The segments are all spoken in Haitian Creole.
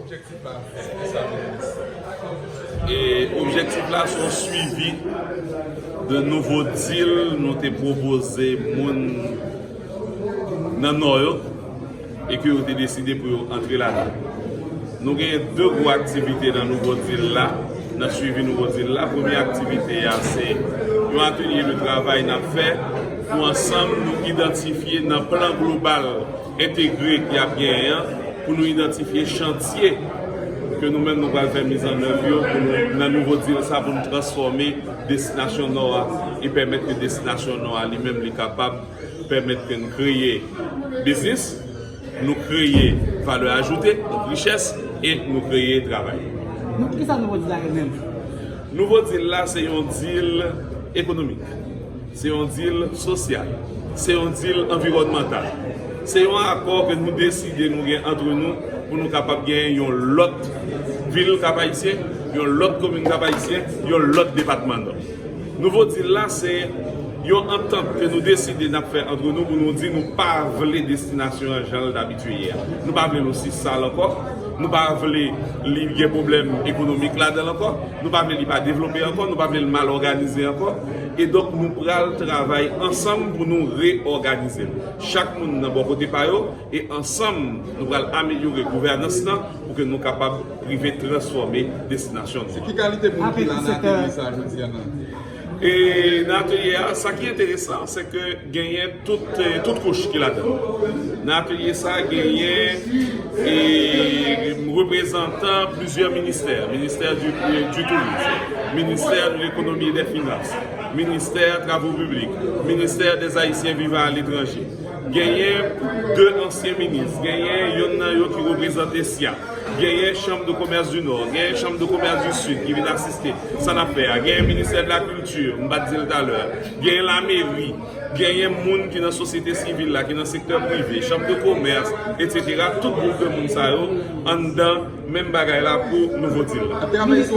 Objektif la se ki sa minis? E objektif la se yon swivi de nouvo dil nou te pwopoze moun nan Nò yo e ke yo te deside pou yo antre ladan. Nou genyen 2 gwo aktivite nan nouvo dil la, nan swivi nouvo dil la. Premye aktivite a se yon atelye de travay n ap fè pou ansanm nou idantifye nan plan global, entegre ki ap genyen an pou nou idantifye chantye ke nou menm nou pral fè mizannèv yo pou nou nan nouvo dil sa pou nou transfòme destinasyon Nò a e pèmèt ke destinasyon Nò a li menm li kapab pèmèt ke n kreye biznis, nou kreye valè ajoute, donk richès, e nou kreye travay. Donk kisa nouvo dil la ye menm? Nouvo dil la se yon dil ekonomik. Se yon dil sosyal. Se yon dil anviwònmantal. Se yon akò ke nou deside nou gen antre nou pou nou kapab genyen yon lòt vil Kap-Ayisyen, yon lòt komin Kap-Ayisyen, yon lòt depatman Nò. Nouvo dil la se yon antant ke nou deside n ap fè antre nou pou nou di nou pa vle destinasyon an jan l t abitye ye a. Nou pa vle l osi sal ankò. Nou pa vle li gen pwoblèm ekonomik ladan l ankò. Nou pa vle li pa devlope ankò. Nou pa vle l mal òganize ankò. E donk nou pral travay ansanm pou nou reyòganize l, chak moun nan bò kote pa yo, e ansanm nou pral amelyore gouvènans lan pou ke nou kapab rive transfòme destinasyon nou an. Se ki kalite moun ki la nan atelye sa a jodi a nan? E nan atelye a, sa ki enteresan, se ke. Genyen tout kouch ki ladan. Nan atelye sa a genyen reprezantan plizyè ministè, ministè di touris, ministè lekonomi e dè finans, ministè travo piblik, ministè dèz ayisyen vivan aletranje, genyen de ansyen minis, genyen yonn nan yo ki reprezante sya, genyen chanm de komès di nò, genyen chanm de komès di sid ki vin asiste sa n ap fè a, genyen ministè de la kilti, m pa t di l talè. Genyen lameri, genyen moun ki nan sosyete sivil la, ki nan sektè prive, chanm de komès, etsetera, tout gwoup de moun sa yo anndan menm bagay la pou nouvo dil la. Minis,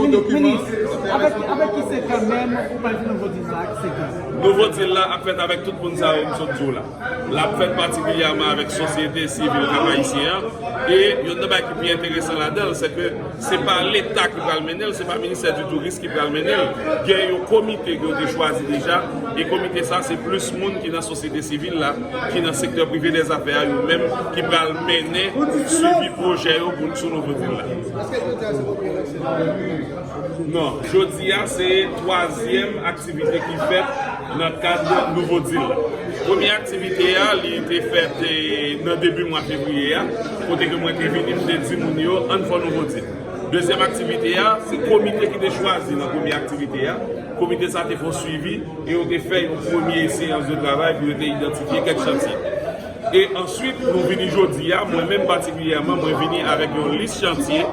avèk ki sektè menm ou pral fè nouvo dil sa ak ki sektè? Nouvo dil la ap fèt avèk tout moun sa yo m sot di w la. L ap fèt patikilyèman avèk sosyete sivil Kap-Ayisyen an. E youn nan bagay ki pi enteresan ladan l, sèke se pa Leta ki pral mennen l, se pa Ministè di Touris ki pral mennen l. Gen yon komite ke yo te chwazi deja, e komite sa a se plis moun ki nan sosyete sivil la, ki nan sektè prive dè zafè a yo menm ki pral mennen swivi pwojè yo pou sou nouvo vil la. Non, jodi a se twazyèm aktivite ki fèt nan kad Nouvo Dil la. Premye aktivite a, li te fèt nan debi mwa fevriye a, kote ke mwen te vini m te di moun yo ann fè nouvo dil. Dezyèm aktivite a, se komite ki te chwazi nan premye aktivite a, komite sa te fè yon swivi e yo te fè yon premye seyans de travay pou yo te idantifye kèk chantye. E answit nou vini jodi a, mwen menm patikilyèman mwen vini avèk yon lis chantye,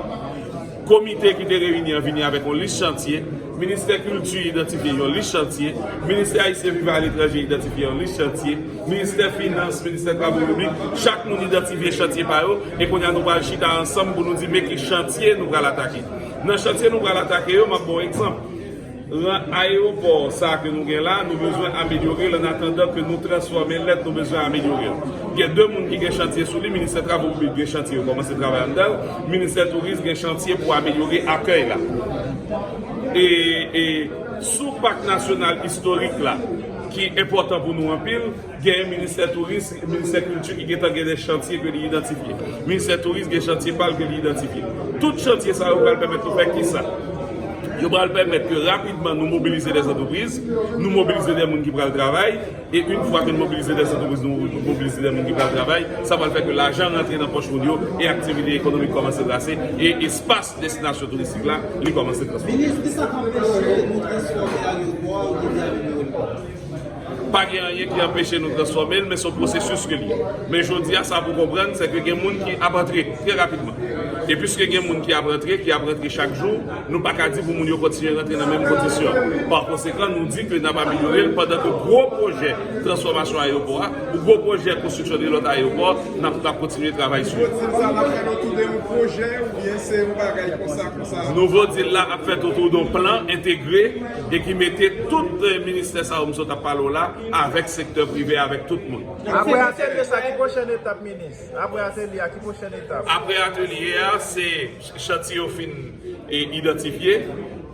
Komite ki te reyini an vini avèk yon lis chantye, Ministè Kilti idantifye yon lis chantye, Ministè Ayisyen vivan aletranje idantifye yon lis chantye, Ministè Finans, Ministè Travo Piblik, chak moun idantifye chantye pa yo, e kounye a nou pral chita ansanm pou nou di men ki chantye nou pral atake. Nan chantye nou pral atake yo, m ap ba w egzanp. Ran ayewopò sa ke nou gen la, nou bezwen amelyore l annatandan ke nou transfòme lèt nou bezwen amelyore l. Gen de moun ki gen chantye sou li, Ministè Travo Piblik gen chantye yo kòmanse travay anndan l, Ministè Touris gen chantye pou amelyore akèy la. E sou Pak Nasyonal Istorik la ki enpòtan pou nou anpil, Gen Ministè Touris, Ministè Kilti ki gentan gen de chantye ke li idantifye. Ministè Touris gen chantye pa l ke li idantifye. Tout chantye sa yo pral pèmèt nou fè kisa? Yo pral pèmèt ke rapidman nou mobilize dè antrepriz, nou mobilize dè moun ki pral travay, e yn fwa ke nou mobilize dè antrepriz, nou mobilize dè moun ki pral travay, sa pral fè ke lajan rantre nan pòch moun yo, e aktivite ekonomik kòmanse trase, e espas destinasyon touristik la li kòmanse transfòme. Minis, kisa k anpeche nou transfòme ayewopò a oubyen vye ayewopò? Pa gen anyen ki anpeche nou transfòme l, men se yon pwosesis ke l ye. Men jodi a, sa pou w konprann, se ke gen moun ki ap antre trè rapidman. E piske gen moun ki ap rantre, ki ap rantre chak jou, nou pa ka di pou moun yo kontinye rantre nan menm kondisyon. Pa konsekan, nou di ke n ap amelyore l, pandan ke gwo pwojè transfòmasyon ayewopò a, ou gwo pwojè konstriksyon 2 lòt ayewopò, n ap ka kontinye travay sou yo. Nouvo dil sa l ap fèt otou de yon pwojè oubyen se yon bagay konsa konsa? Nouvo dil la ap fèt otou de yon plan entegre. e ki mete tout ministè sa yo m sot ap pale w la avèk sektè prive, avèk tout moun. Apre atelye sa ki pwochèn etap minis? Apre atelye a ki pwochèn etap? Apre atelye a se chantiye yo fin idantifye,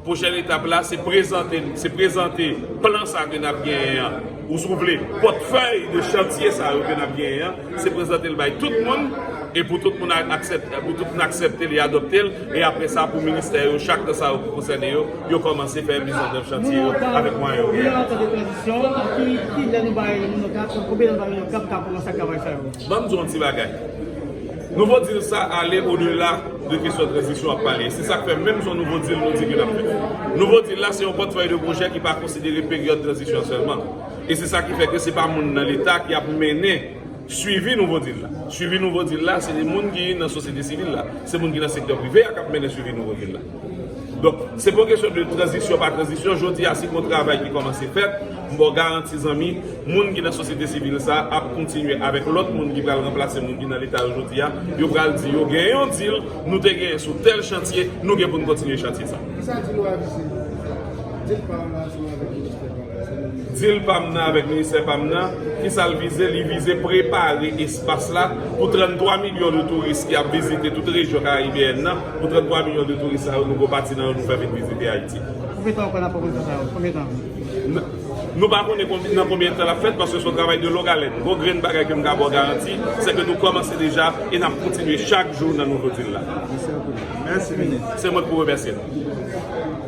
pwochèn etap la se prezante plan sa ke n ap genyen an. Ou souple, pòtfèy de chantye sa yo ke n ap genyen an, se prezante l bay tout moun, e pou tout moun aksepte l e adopte l, e apre sa pou ministè yo chak nan sa yo ki konsène yo, yo kòmanse fè mizandèv chantye yo avèk mwayen yo genyen. Ban m di w yon ti bagay. Nouvo deal sa ale odela de kesyon tranzisyon ap pale. Se sak fè menm son nouvo deal nou di ke nap fè. Nouvo deal la se yon pòtfèy de pwojè ki pa konsidere peryòd tranzisyon sèlman. E se sa ki fè ke se pa moun nan leta ki ap mennen swivi nouvo deal la. Swivi nouvo deal la se de moun ki nan sosyete sivil la. Se moun ki nan sektè prive a kap mennen swivi nouvo deal la. Donk, se pa yon kesyon de tranzisyon pa tranzisyon, jodi a se yon travay ki kòmanse fèt, m ba w garanti zanmi, moun ki nan sosyete sivil sa a ap kontinye avèk lòt moun ki pral ranplase moun ki nan Leta yo jodi a, yo pral di yo gen yon dil nou te genyen sou tèl chantye, nou gen pou n kontinye chantye sa. Ki sa dil ou a vize? Dil pa m nan se avèk ministè pa m nan, sa nou vize? Dil pa m nan avèk ministè pa m nan, ki sa l vize? Li vize prepare espas la pou 33 milyon de touris ki ap vizite tout rejyon karayibeyèn nan, Pou 33 milyon de touris sa yo, nou gwo pati nan yo nou fè vin vizite Ayiti. Konbyen tan ou kwè nan pwopoze sa yo? Konbyen tan? Nou pa konnen nan konbyen tan l ap fèt paske se yon travay de long alèn. Gwo grenn bagay ke m ka ba w garanti, se ke nou kòmanse deja e n ap kontinye chak jou nan nouvo dil la. Mèsi anpil. Mèsi minis. Se mwen ki pou remèsye nou.